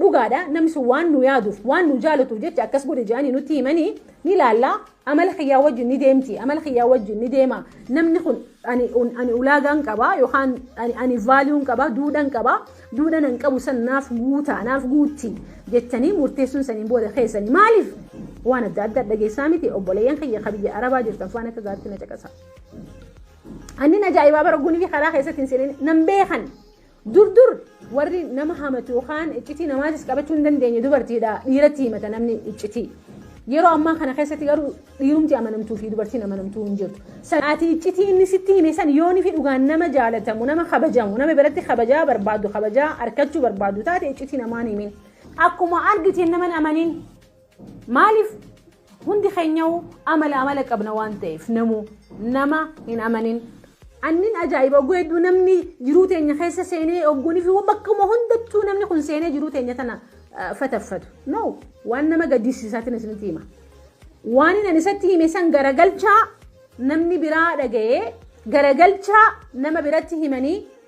Dhugaadha namni sun waan nu yaaduuf waan nu jaalatuuf jecha akkas godhe jedhanii nutti himanii ni laalla amala kiyyaa wajjin ni deemti amala kiyyaa wajjin ni deema namni kun ani un- ani ulaagaan qaba yookaan ani ani vaaliyuun qaba duudhan qaba duudhan an qabu san naaf guuta naaf guutti jettanii murteessuun saniin booda keessanii maaliif waan adda addaa dhageessaa miti obboleeyyan kiyya ka biyya arabaa jirtan faana akka gaatti na caqasa. Annin ajaa'ibaa bara gunii karaa keessatti hin seenin nan beekan Dur dur warri nama hamatu yookaan iccitii namaatis qabachuu hin dandeenye dubartiidha dhiiratti himata namni iccitii. Yeroo ammaa kana keessatti garuu dhiirumti amanamtuu fi dubartiin amanamtuu hin jirtu. Ati iccitii inni sitti hime san yoonii fi dhugaan nama jaalatamu, nama kabajamu, nama biratti kabajaa barbaadu, kabajaa arkachuu barbaadu taate iccitii namaan himin. Akkuma argiteen naman amanin. Maaliif hundi keenyauu amala amala qabna waan ta'eef namuu nama hin amanin. Annin ajaa'iba ogguu hedduu namni jiruu teenya keessa seenee ogguunii fi bakkuma hundattuu namni kun seenee jiruu teenya tana fataffatu. No waan nama gaddisiisaatiin isinitti hima. Waan inni isatti hime san garagalchaa namni biraa dhaga'ee garagalchaa nama biratti himanii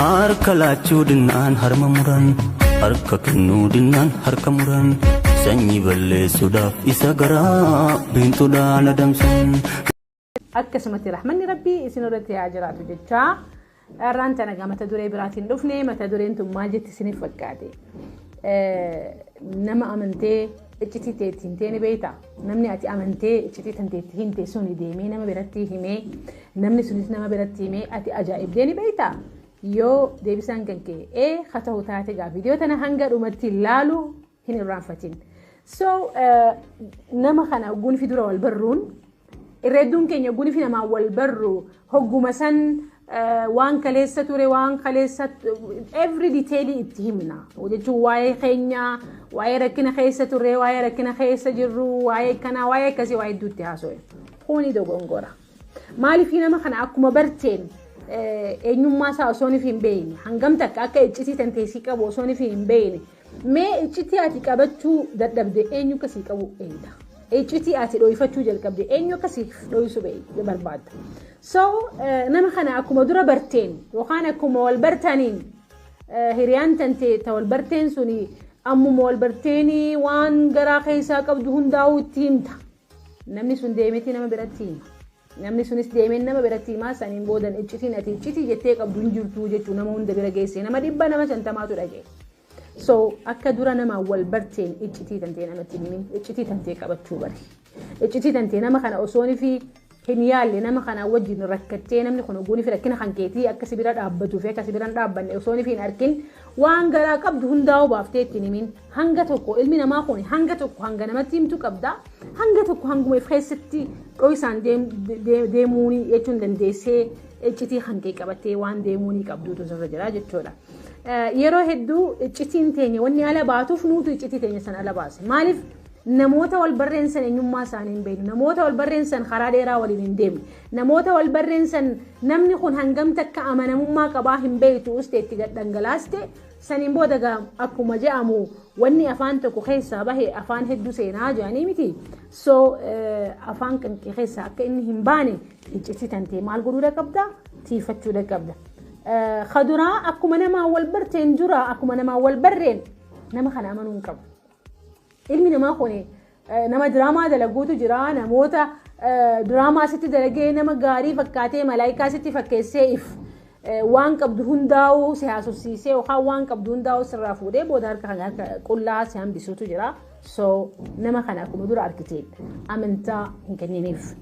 Harka laachuu dinnaan harma muran harka kennuu dinnaan harka muran sanyii balleessuudhaaf isa garaa biintuudhaan adamsan. akkasumatti rahmanni rabbii isin irratti haa jiraatu jechaa dharraan tana egaa mata duree biraatiin dhufne mata dureen tun maal jetti isiniif fakkaate nama amantee iccitii teetti himtee ni beektaa Namni ati amantee iccitii tantee itti himte suni deemee nama biratti himee namni sunis nama biratti himee ati ajaa'ibdee ni beektaa? Yoo deebisaan kan kee ee ha ta'u taate gaa viidiyoo tana hanga dhumatti laalu hin irraanfatin. So nama kana gunfi dura wal barruun irra hedduun keenya gunfi namaan wal barru hogguma san waan kaleessa ture waan kaleessa every detail itti himna jechuun waa'ee keenya waa'ee rakkina keessa turre waa'ee rakkina keessa jirru waa'ee kanaa waa'ee akkasii waa'ee hedduutti haasa'e kuni dogongora maaliif nama kana akkuma barteen eenyummaa isaa osoo hin beekne hangam takka akka iccitii tanteessii qabu osoo hin beekne Mee iccitii ati qabachuu dadhabde eenyu akka sii qabu eeyda. Iccitii ati dho'ifachuu jalqabde eenyu akka siif dho'isu bee- barbaadda. So eh, nama kana akkuma dura barteen yookaan akkuma wal bartaniin eh, hiriyaan tante ta wal barteen suni ammuma wal barteenii waan garaa keessaa qabdu hundaa'uu itti himta. Namni sun deemetii nama biratti hima. Namni sunis deemeen nama biratti himaa saniin boodan iccitiin ati iccitii jettee qabdu hin jirtuu jechuu nama hunda bira geessee nama dhibba nama shantamaatu dhagee. So akka dura nama wal barteen iccitii tantee namatti himin iccitii tantee qabachuu bari. Iccitii tantee nama kana osoon fi hin yaalle nama kanaa wajjin rakkattee namni kun oguunii fi rakkina kan keetii akka si bira dhaabbatuu fi akka si bira hin dhaabbanne osoo ni fi hin arkin waan garaa qabdu hundaa'uu baaftee ittiin himin hanga tokko ilmi namaa kun hanga tokko hanga namatti himtu qabda hanga tokko hanguma if keessatti dho'isaan deemuun jechuun dandeessee iccitii kan kee qabattee waan deemuu ni qabduutu sirra jira jechuudha. Yeroo hedduu iccitiin teenya wanni ala baatuuf nuutu iccitii teenya sana ala baase. Maaliif Namoota wal barreen san eenyummaa isaanii hin beeknu. Namoota wal barreen san karaa dheeraa waliin hin deemne. Namoota wal barreen san namni kun hangam takka amanamummaa qabaa hin beektu ustee itti gad dhangalaaste saniin booda gaa akkuma je'amu wanni afaan tokko keessaa bahe afaan hedduu seenaa jedhanii miti. So afaan kan kee keessaa akka inni hin baane iccitii tantee maal godhuudha qabda? Tiifachuudha qabda. Kaduraa akkuma namaa wal barteen dura akkuma namaa wal barreen nama kana amanuu hin qabu. Ilmi namaa kun nama diraamaa dalaguutu jira. Namoota diraamaa sitti dalagee nama gaarii fakkaatee malaayikaa sitti fakkeessee if waan qabdu hundaa'uu si haasofsiisee yookaan waan qabdu hundaa'uu sirraa fuudhee booda harka kan harka qullaa si hambisuutu jira. So nama kana akkuma dura argite amantaa hin kenniniif.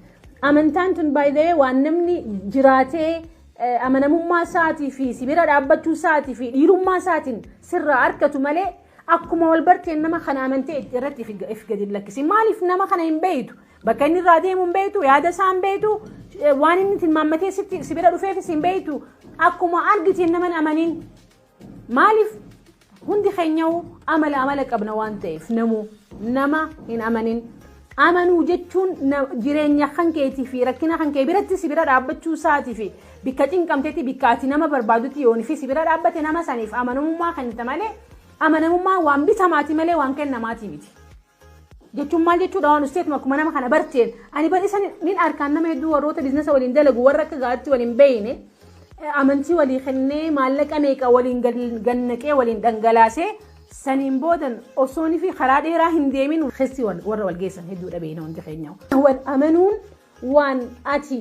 Amantaan tun baay'ee waan namni jiraatee amanamummaa isaatii fi sibira dhaabbachuu isaatii fi dhiirummaa isaatiin sirraa argatu malee Akkuma wal barteen nama kana amantee itti- irratti if if gadi hin lakkisiin. Maaliif nama kana hin beektu? Bakka inni irraa deemu hin beektu, yaada isaa hin beektu, eh, waan inni tilmaammatee sitti si bira dhufeefis hin beektu. Akkuma argiteen nama hin amaniin. Maaliif hundi keenyahu amala amala qabna waan ta'eef namuu nama hin amanin. Amanuu jechuun jireenya kan keetii fi rakkina kan kee biratti si bira dhaabbachuu isaati fi bikka cinqamtetti bikka ati nama barbaadutti yoon fi si bira dhaabbate nama saniif amanamummaa kennita malee amanamummaa waan bitamaati malee waan kennamaati miti. jechuun maal jechuudha waan usteetuma akkuma nama kana barteen ani bar isa nin arkaan nama hedduu warroota biiznasa waliin dalagu warra akka gaaritti waliin beeyne amantii walii kennee maallaqa meeqa waliin gannaqee waliin dhangalaasee Saniin boodan osoonifi karaa dheeraa hin deemin keessi warra wal geessan hedduudha beekna hundi keenya. Wal amanuun waan ati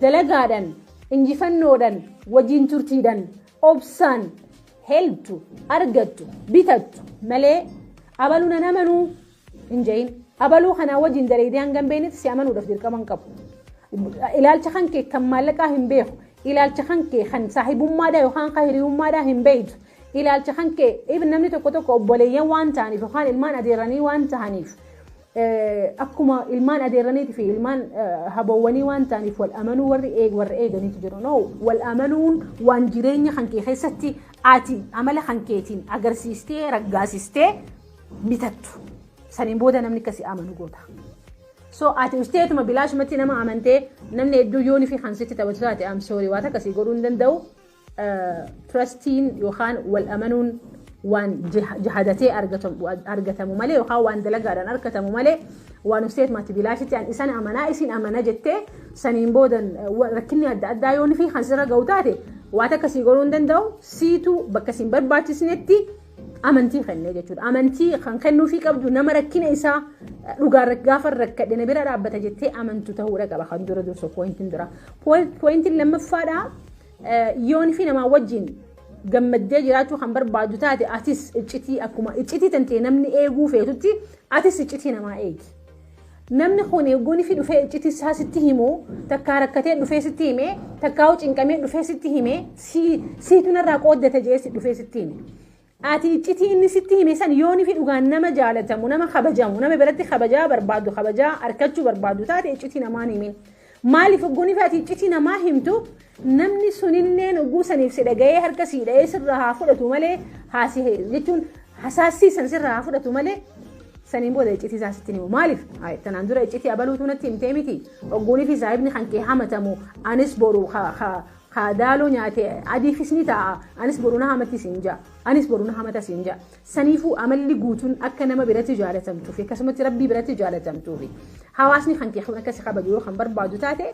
dalagaadhan, injifannoodhan, wajjin turtiidhan, obsaan helptu, argattu, bitattu malee abalu nan amanuu hin ja'iin. Abaluu kanaa wajiin daleeydee hanga hin beeynetti si amanuudhaf dirqama hin qabu. Ilaalcha kan kee kan maallaqaa hin beeku. Ilaalcha kan kee kan saahibummaadhaa yookaan kan hiriyummaadhaa hin beeytu. Ilaalcha kan kee even namni tokko tokko obboleeyyan waan ta'aniif yookaan ilmaan adeerranii waan ta'aniif akkuma ilmaan adeerraniitii fi ilmaan haboowwanii waan ta'aniif wal amanuu warri eeg warri eeganiitu jiru. No wal amanuun waan jireenya kan kee keessatti ati amala kan keetiin agarsiistee raggaasistee bitattu. Saniin booda namni akka si amanu goota. So ati usteetuma bilaashumatti nama amantee namni hedduu yoonii fi kan sitti taphatu taate am sorry waan akkasii godhuu hin danda'u. Trustiin yookaan wal amanuun waan jahadatee argatamu malee yookaan waan dalagaadhaan argatamu malee waan usteetumatti bilaashitti an isan amanaa isin amana jettee saniin booda rakkinni adda addaa yoonii fi kan sirra ga'u taate waan akkasii godhuu hin danda'u siitu bakka isin barbaachisnetti. amantii kennee jechuudha. Amantii kan kennuufii qabdu nama rakkina isaa dhugaa gaafa rakkadhe na bira dhaabbata jettee amantu ta'uudha qaba kan dura dursu poointiin dura. Poointiin lammaffaadha yoon fi namaa wajjin gammaddee jiraachuu kan barbaadu taate atis iccitii akkuma iccitii tantee namni eeguu feetutti atis iccitii namaa eegi. Namni kun yogguu nifi dhufee icciti isaa sitti himu takkaa rakkatee dhufee sitti hime takkaa'uu cinqamee dhufee sitti hime sii- siitu narraa qooddate jee si dhufee sitti hime. Ati iccitii inni sitti hime san yoo nifi dhugaan nama jaalatamu nama kabajamu nama biratti kabajaa barbaadu kabajaa arkachuu barbaadu taate iccitii namaan himin. Maaliif ogguuniif ati iccitii namaa himtu namni sunilleen ogguu saniif si dhaga'ee harka sii dha'ee sirraa haa fudhatu malee haasi jechuun hasaassii san sirraa haa fudhatu malee saniin booda iccitii isaa sitti himu maaliif Ay, tanaan dura iccitii abaluutu natti himtee miti ogguunii fi saahibni kan kee hamatamu anis boru ka- ka- ka daaloo nyaate adiifis ni ta'a anis boru na hamatti siin ja'a anis boru na hamata siin ja'a Saniifuu amalli guutuun akka nama biratti jaalatamtuu fi akkasumatti Rabbii biratti jaalatamtuu fi hawaasni kan kee kun akka si kabaju yoo kan barbaadu taate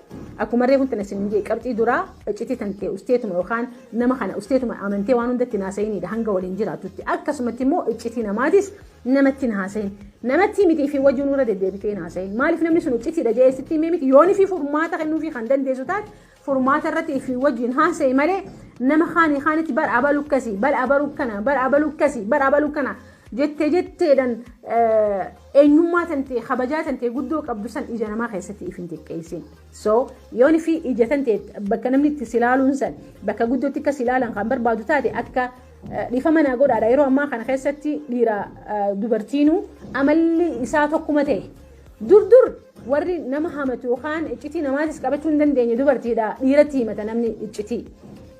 akkuma reefu tana sin jee qabxii duraa iccitii tan tee usteetuma yookaan nama kana usteetuma amantee waan hundatti naasa'inidha hanga waliin jiraatutti akkasumatti immoo iccitii namaatis namatti naasa'in namatti miti fi wajjin irra deddeebitee naasa'in maaliif namni sun iccitiidha jee sitti himee miti yoonii fi furmaata kennuufi kan dandeessu taate furmaata irratti ifii wajjin haasa'i malee nama kaanii kaanitti bar abalu akkasi bar abalu akkana bar abalu akkasi bar abalu akkana jettee jetteedhan eenyummaa tantee kabajaa tantee guddoo qabdu san ija namaa keessatti if hin xiqqeessin. So yoon fi ija tantee bakka namni itti silaaluun san bakka guddootti akka silaalan kan barbaadu taate akka dhiifama naa godhaadha yeroo ammaa kana keessatti dhiira dubartiinuu amalli isaa tokkuma ta'e dur dur Warri nama hamatu yookaan iccitii namaatis qabachuu hin dandeenye dubartiidha. Dhiiratti himata namni iccitii.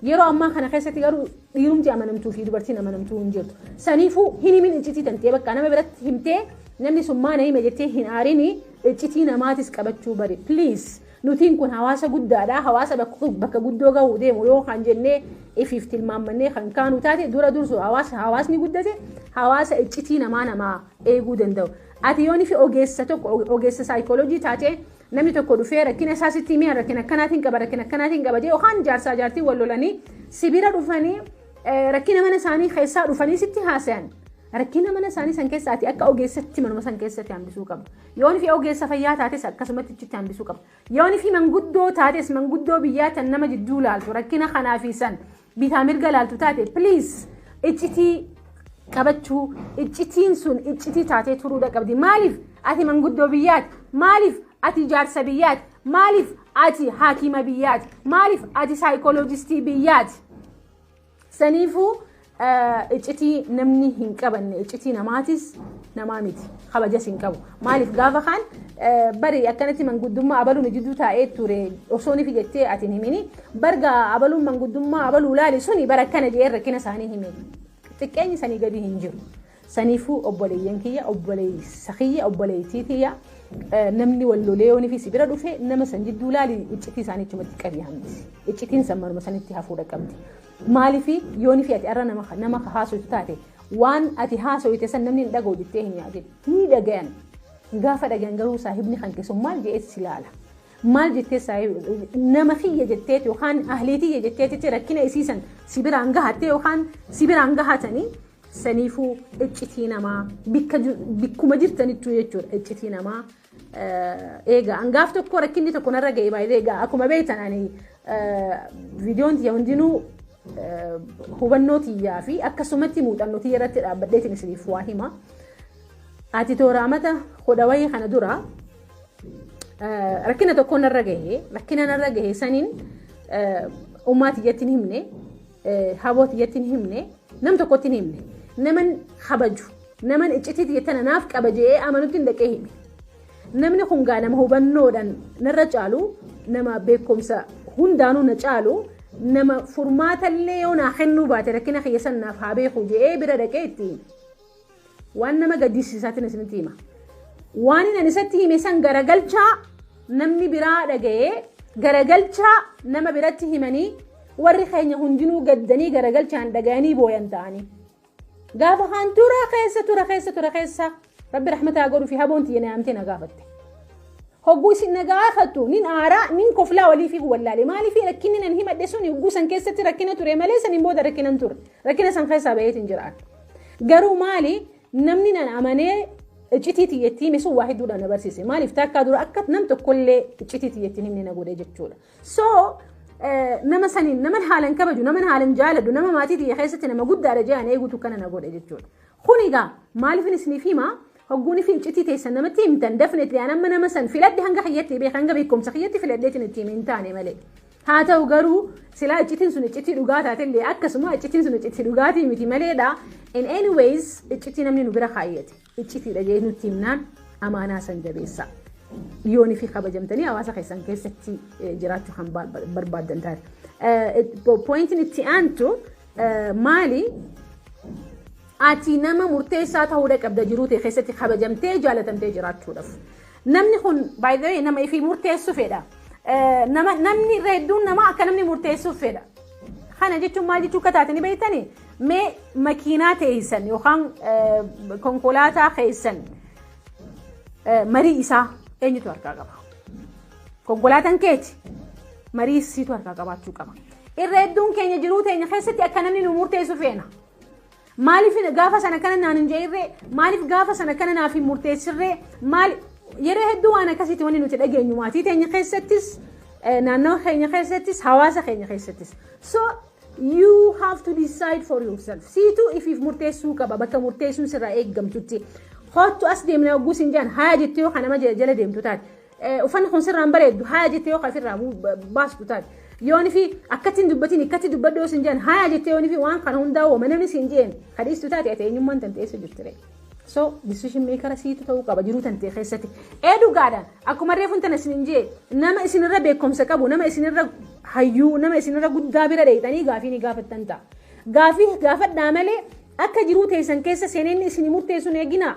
Yeroo ammaa kana keessatti garuu dhiirumti amanamtuu fi dubartiin amanamtuu hin jirtu. Saniifuu hin himin iccitii tantee bakka nama biratti himtee namni sun maana hime jettee hin aarini iccitii namaatis qabachuu bari. Please nutiin kun hawaasa guddaadha. Hawaasa bakka guddoo gahuu deemu yoo kan jennee ifiif tilmaammannee kan kaanu taate dura dursu hawaasni guddate hawaasa iccitii namaa namaa eeguu danda'u. Ati yoo nifi ogeessa tokko ogeessa saayikooloojii taatee namni tokko dhufee rakkina isaa sitti himee rakkina akkanaatiin qaba rakkina akkanaatiin qaba jee yookaan jaarsaa jaartii wal lolanii sibira dhufanii rakkina mana isaanii keessaa dhufanii sitti haasayan rakkina mana isaanii san keessa ati akka ogeessatti manuma san keessatti hambisuu qabda. Yoo nifi ogeessa fayyaa taates akkasumatti itti hambisuu qabda. Yoo nifi manguddoo taates manguddoo biyyaa tan nama jidduu laaltu rakkina kanaa fi san bitaa mirga laaltu taate please iccitii qabachuu iccitiin sun iccitii taatee turuudha qabdi maaliif ati manguddoo biyyaati maaliif ati jaarsa biyyaati maaliif ati haakima biyyaati maaliif ati saayikooloojistii biyyaati saniifuu iccitii namni hin qabanne iccitii namaatis namaa miti kabajas hin qabu maaliif gaafa kaan bari akkanatti manguddummaa abaluun jidduu taa'ee ture osoon ifi jettee ati hin himini Bar gaa abaluun manguddummaa abaluu laali suni bara akkana je'ee rakkina isaanii hime. Xiqqeenyi sanii gadii hin jiru. Saniifuu obboleeyyan kiyya, obboleessa kiyya, obboleettii tiyya namni wal lolee yoonii fi si bira dhufe nama san jidduu laali iccitii isaanii achumatti qabii hambisi. Iccitiin san manuma sanitti hafuudha qabdi. Maaliif yoonii fi ati arra nama nama haasoftu taate waan ati haasofte san namni hin dhaga'u jettee hin yaadin. Ni dhagayan. Gaafa dhagayan garuu saahibni kan keessumaa maal je'ee si laala. maal jettee saahiba nama kiyya jetteeti yookaan ahlii tiyya jetteetitti rakkina isii san si biraan gahattee yookaan si biraan gahatanii saniifuu iccitii namaa bikka ju- bikkuma jirtanittuu jechuudha iccitii namaa eh, eegaa hangaaf tokko rakkinni tokko narra ga'e baay'ee eegaa akkuma beektan ani eh, viidiyoon tiyya hundinuu eh, hubannoo tiyyaa fi akkasumatti muuxannoo tiyya irratti dhaabbadheetiin isiniif waa hima ati tooraamata hodhawayii kana dura Rakkina tokko narra gahe rakkina narra gahe saniin ummaa tiyyatti hin himne haboo tiyyatti hin himne nam tokkotti hin himne naman habaju naman iccitii tiyyatti naaf qaba je'ee amanutti hin dhaqee hime. Namni kun gaa nama hubannoodhaan narra caalu nama beekumsa hundaanuu na caalu nama furmaatallee yoo naa kennuu baate rakkina kiyya san naaf haa beeku je'ee bira dhaqee itti hime. Waan nama gaddisiisaatiin isinitti hima. Waan inni isatti hime san garagalchaa namni biraa dhaga'ee garagalchaa nama biratti himanii warri keenya hundinuu gaddanii garagalchaan dhaga'anii booyan ta'anii. Gaafa kaan tura keessa tura keessa tura keessa rabbi rahmataa godhuu fi haboon tiyya naamtee na gaafatte. Hogguu isin na gaafattu nin aaraa nin koflaa walii fi wallaale maaliif rakkinni nan himadhe sun hogguu san keessatti rakkina ture malee saniin booda rakkinan ture rakkina san keessaa baheetiin jiraadha. Garuu maali namni nan amanee iccitii tiyyettii hime sun waa hedduudhaan na barsiise. Maaliif takkaa dura akka nam tokkollee iccitii tiyyettiin himne na godhe jechuudha. So nama saniin naman haalan kabaju naman haalan jaaladhu nama maatii tiyya keessatti nama guddaadha jedhan eeguutu kana na godhe jechuudha. Kun egaa maaliifin isiniif hima Hogguu nifi iccitii teessan namatti himtan definitely an amma nama san filadhe hanga kiyyatti beeka hanga beekumsa kiyyatti filadheetiin itti hime hin taane malee. Haa ta'u garuu silaa iccitiin sun iccitii dhugaa taatellee akkasuma iccitiin sun iccitii dhugaatii miti maleedha. In any ways iccitii namni nu bira kaayyate iccitiidha jee nutti himnaan amaanaa san jabeessa. Yoon fi kabajamtanii hawaasa keessan keessatti jiraachuu kan barbaaddan taate. Pointiin itti aantu Maali ati nama murteessaa ta'uudha qabda jiruu ta'e keessatti kabajamtee jaalatamtee jiraachuudhaaf. Namni kun by the way nama ifii murteessu fedha. Nama namni irra hedduun nama akka namni murteessuuf fedha. Kana jechuun maal jechuu akka taate ni beektani mee makiinaa teessan yookaan konkolaataa keessan marii isaa eenyutu harkaa qaba? Konkolaataan keeti marii isiitu harkaa qabaachuu qaba. Irra hedduun keenya jiruu teenya keessatti akka namni nu murteessu feena. Maaliif gaafa sana kana naan hin jeerree? Maaliif gaafa sana kana naaf hin murteessirree? Maal yeroo hedduu waan akkasiitti wanni nuti dhageenyu maatii teenya keessattis naannoo keenya keessattis hawaasa keenya keessattis. So you have to decide for yourself. Siitu ifiif murteessuu qaba bakka murteessuun sirraa eeggamtutti. Hoottu as deemna ogguus hin jaan haa jettee yoo kanama jala deemtu taate. Uffanni kun sirraan bareeddu haayaa jettee yoo ofirraa baastu taate. Yoon fi akkatti hin dubbatin akkatti dubbadhu yoo sin jedhan haayaa jettee yoon fi waan kana hundaa uuma namni sin jeen kadhiistu taate ati eenyummaan tantee eessa jirti ree. So decision maker siitu ta'uu qaba jiruu tantee keessatti. Ee dhugaadha akkuma reefuun tana sin jee nama isinirra beekumsa qabu nama isinirra hayyuu nama isinirra guddaa bira dheeyxanii gaafii ni gaafattan ta'a. Gaafii gaafadhaa malee Akka jiruu teessan keessa seenee inni isinii murteessu hin eeginaa.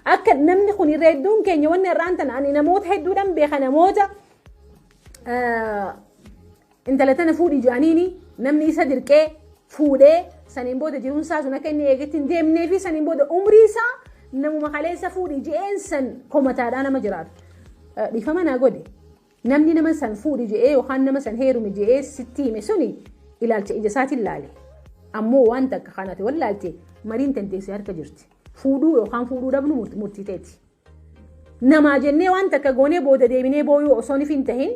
Akka namni kun irra hedduun keenya wanni har'aan tana ani namoota hedduudhaan beeka namoota intala tana fuudhi jaaniini namni isa dirqee fuudhee saniin booda jiruun isaa sun akka inni eegetti hin deemnee fi saniin booda umrii isaa namuma kaleessa fuudhi je'een san komataadhaa nama jiraatu. Dhiifama naa godhi. Namni nama san fuudhi je'ee yookaan nama san heerumi je'ee sitti hime suni ilaalcha ija isaatiin laale. Ammoo waan takka kan ati wallaalte mariin tantee si harka jirti. Fuudhuu yookaan fuudhuu dhabnu murtii teeti. Namaa jennee waan takka goonee booda deebinee booyuu osoo nif hin tahin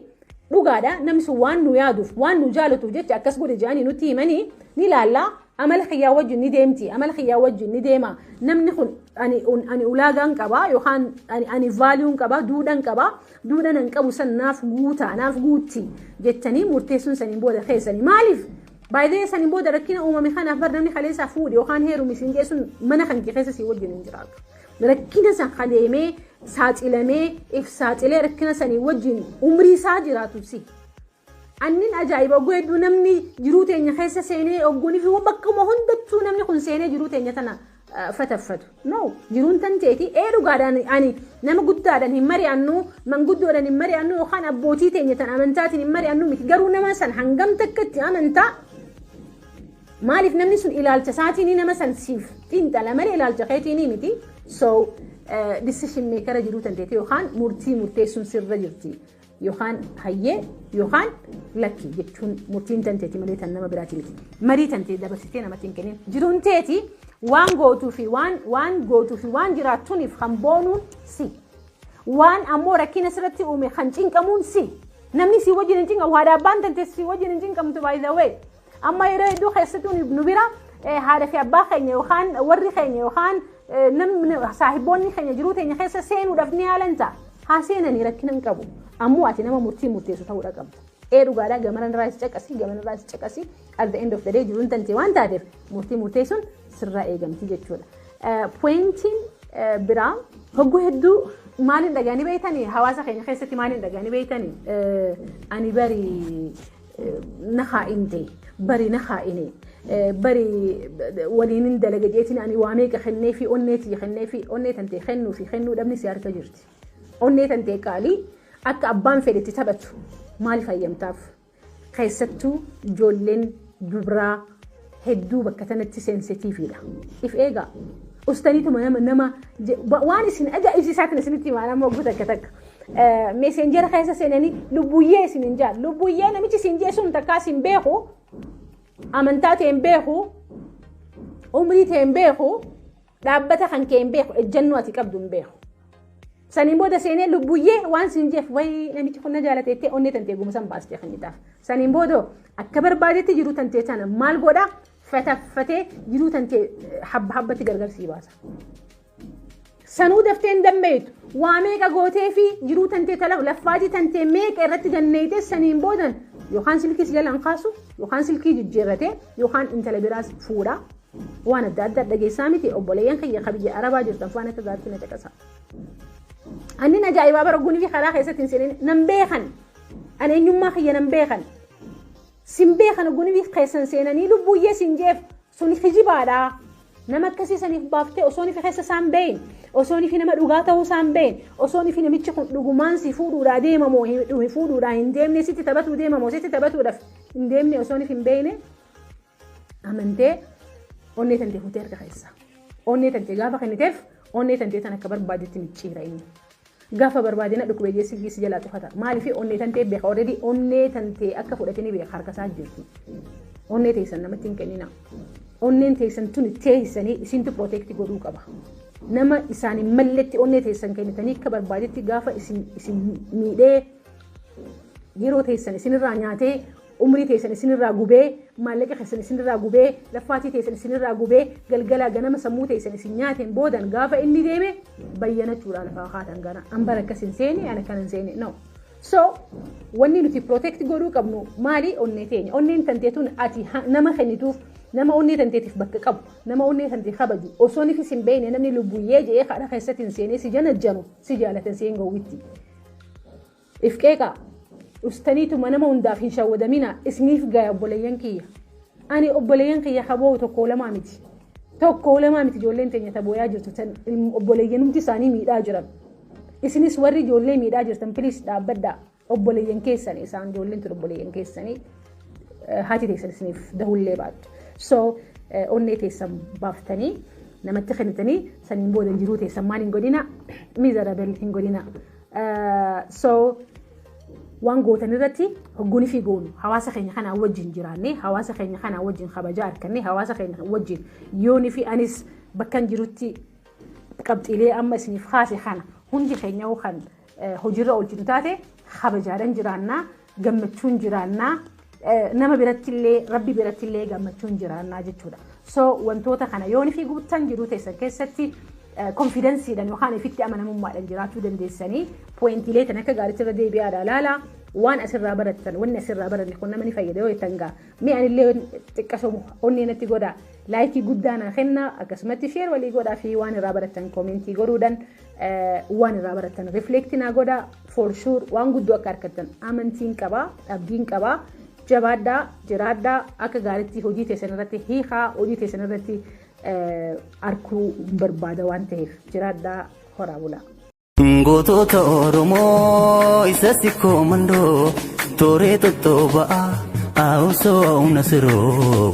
dhugaadha namni sun waan nu yaaduuf waan nu jaalatuuf jecha akkas godhe je'anii nutti himanii ni laallaa amala kiyyaa wajjin ni deemti amala kiyyaa wajjin ni deema namni kun ani un- ani ulaagaan qaba yookaan ani ani vaaliyuun qaba duudhan qaba duudhan an qabu san naaf guuta naaf guutti jettanii murteessuun saniin booda keessanii maaliif baay'ee saniin booda rakkina uumame kanaaf bar namni kaleessaa fuudhe yookaan heerumi siin geessuun mana kan kee keessa sii wajjin hin jiraatu rakkina san kaleemee saaxilamee if saaxilee rakkina sanii wajjin umrii isaa jiraatu si Annin ajaa'iba ogguu hedduu namni jiruu teenya keessa seenee ogguunii fi bakkuma hundattuu namni kun seenee jiruu teenya tana fataffatu. No jiruun tan teeti ee dhugaadhaan ani nama guddaadhaan hin mari'annu manguddoodhaan hin mari'annu yookaan abbootii teenya tan amantaatiin hin mari'annu miti garuu nama san hangam takka itti amantaa maaliif namni sun ilaalcha isaatiin nama san siif xiinxala malee ilaalcha keetiin miti so decision maker jiruu tan teeti yookaan murtii murteessuun sirra jirti. Yookaan hayyee yookaan lakki jechuun murtiin tanteeti malee tan nama biraati miti. Marii tantee dabarsitee namatti hin kennin. Jiruun teeti waan gootuu fi waan waan gootuu fi waan jiraattuuniif kan boonuun si. Waan ammoo rakkina sirratti uume kan cinqamuun si. Namni si wajjin hin cinqamu haadha abbaan tantee si wajjin hin cinqamtu by the way. Amma yeroo hedduu keessattuu nu bira haadha fi abbaa keenya yookaan warri keenya yookaan namni saahiboonni keenya jiruu teenya keessa seenuudhaaf ni haalan ta'a. Haa seenanii rakkina hin qabu. Ammoo ati nama murtii murteessu ta'uudha qabda. Ee dhugaadhaa gamana irraa is caqasii gamana irraa is caqasii at the end of the day jiruun tantee waan taateef murtii murteessuun sirraa eegamti jechuudha. Poointiin biraa hogguu hedduu maaliin dhagaanii beeytanii hawaasa keenya keessatti maaliin dhagaanii beeytanii ani bari nahaa in jee bari nahaa ini bari waliin in dalaga jeetiin ani waa meeqa kennee fi onnee tiyya kennee fi onnee tantee kennuu fi kennuu dhabni si harka jirti. Onnee tantee qaalii akka abbaan fedhetti taphatu maaliif hayyamtaaf? Keessattuu ijoolleen dubraa hedduu bakka tanatti sensitiifiidha. If eegaa. Ustaniituma nama nama je- ba- waan isin ajaa'ibsiisaatiin isinitti himaa nama oguu takka takka. Meeseenjera keessa seenanii lubbuyyee isin hin jaan. Lubbuyyee namichi isin jee sun takkaa isin beeku. Amantaa ta'e hin beeku. Umrii ta'e hin beeku. Dhaabbata kan kee hin beeku, ejjennoo ati qabdu hin beeku. Saniin booda seenee lubbuyyee waan siin jeef wayii namichi kun na jaalate jettee onnee tantee gumusan baastee kennitaaf. Saniin booda akka barbaadetti jiruu tantee tana maal godha fataffatee jiruu tantee habba habbatti gargar sii baasa. Sanuu daftee hin dammeeytu. Waa meeqa gootee fi jiruu tantee tala laffaatii tantee meeqa irratti ganneeyte saniin boodan yookaan silkii si jalaan kaasu yookaan silkii jijjiirratee yookaan intala biraas fuudha. Waan adda addaa dhageessaa miti obboleeyyan kiyya ka biyya arabaa jirtan waan akka gaariitti na caqasa. Annin ajaa'ibaa bara gunifii karaa keessatti hin seenin nan beekan. Ani eenyummaa kiyya nan beekan. Sin beekan gunifii keessan seenanii lubbuyyee sin jeef sun hijibaadha. Nama akkasii saniif baaftee osoo nifi keessa isaan beeyin osoo nifi nama dhugaa ta'uu isaan beeyin osoo nifi namichi kun dhugumaan si fuudhuudhaa deemamoo hin fuudhuudhaa hin deemne sitti taphatuu deemamoo sitti taphatuudhaaf hin deemne osoo nifi hin beeyne Amantee onnee tantee fuutee harka keessaa. Onnee tantee gaafa kenniteef onnee tantee tan akka barbaadetti micciira inni. Gaafa barbaade na dhukkube jee silkii si jalaa cufata. Maaliif onnee tantee beeka already onnee tantee akka fudhate ni beeka harka isaa jirti. Onnee teessan namatti hin kennina. Onneen teessan tuni teessanii isintu protect godhuu qaba. Nama isaan hin malletti onnee teessan kennitanii akka barbaadetti gaafa isin isin miidhee yeroo teessan isinirraa nyaatee umrii teessan isinirraa gubee, maallaqa keessan isinirraa gubee, laffaatii teessan isinirraa gubee, galgalaa ganama sammuu teessan isin nyaateen boodan gaafa inni deeme bayyanachuudhaan lafaa kaatan gana. An bara akkas hin seene, an akkan hin seene. No. So, wanni nuti protect godhuu qabnu maali onnee teenya. Onneen tantee tun ati ha- nama kennituuf nama onnee tanteetiif bakka qabu, nama onnee tantee kabaju, osoo nifis hin beekne namni lubbuyyee jedhee kadha keessatti hin seenee si janajjanu si jaalatan si hin gowwitti. If qeeqaa. Dhustaniitu manama hundaaf hin shawwadaminaa isiniif gaya obboleeyyan kiyya. Ani obboleeyyan kiyya kaboo'u tokkoo lamaa miti. Tokkoo lamaa miti ijoolleen teenya tabooyaa jirtu tan obboleeyyanumti isaanii miidhaa jiran. Isinis warri ijoollee miidhaa jirtan piliis dhaabbadhaa obboleeyyan keessanii isaan ijoolleen tun obboleeyyan keessanii haati teessan isiniif dahullee baattu. So onnee teessan baaftanii namatti kennitanii saniin booda jiruu teessan maal hin godhina miizarabel hin godhina so waan gootan irratti hogguun fi goonu hawaasa keenya kanaa wajjin jiraannee hawaasa keenya kanaa wajjin kabajaa argannee hawaasa keenya wajjin yoonii fi anis bakkan jirutti qabxiilee amma isiniif kaase kana hundi keenya kan hojiirra oolchitu taate kabajaadhaan jiraannaa gammachuun jiraannaa nama birattillee rabbi birattillee gammachuun jiraannaa jechuudha. So wantoota kana yoon fi guuttan jiruu teessan keessatti konfidansiidhaan yookaan ifitti amanamummaadhaan jiraachuu dandeessanii pooyintiilee tan akka gaariitti irra deebi'aadha laala waan asirraa barattan wanni asirraa baranne kun nama ni fayyada yoo jettan gaa mee anillee xiqqasoo onnee natti godha laayikii guddaa naa kenna akkasumatti sheer walii godhaa fi waan irraa barattan koomentii godhuudhaan waan irraa barattan reflect naa godha for sure waan guddoo akka argattan amantiin qaba abdiin qaba jabaadhaa jiraadhaa akka gaariitti hojii teessan irratti hiikaa hojii teessan irratti arguu barbaada waan ta'eef jiraadhaa horaa bulaa. Gootota Oromoo isa sikkoo mandoo tooree tottoo ba'aa haawusoo haawuna siroo.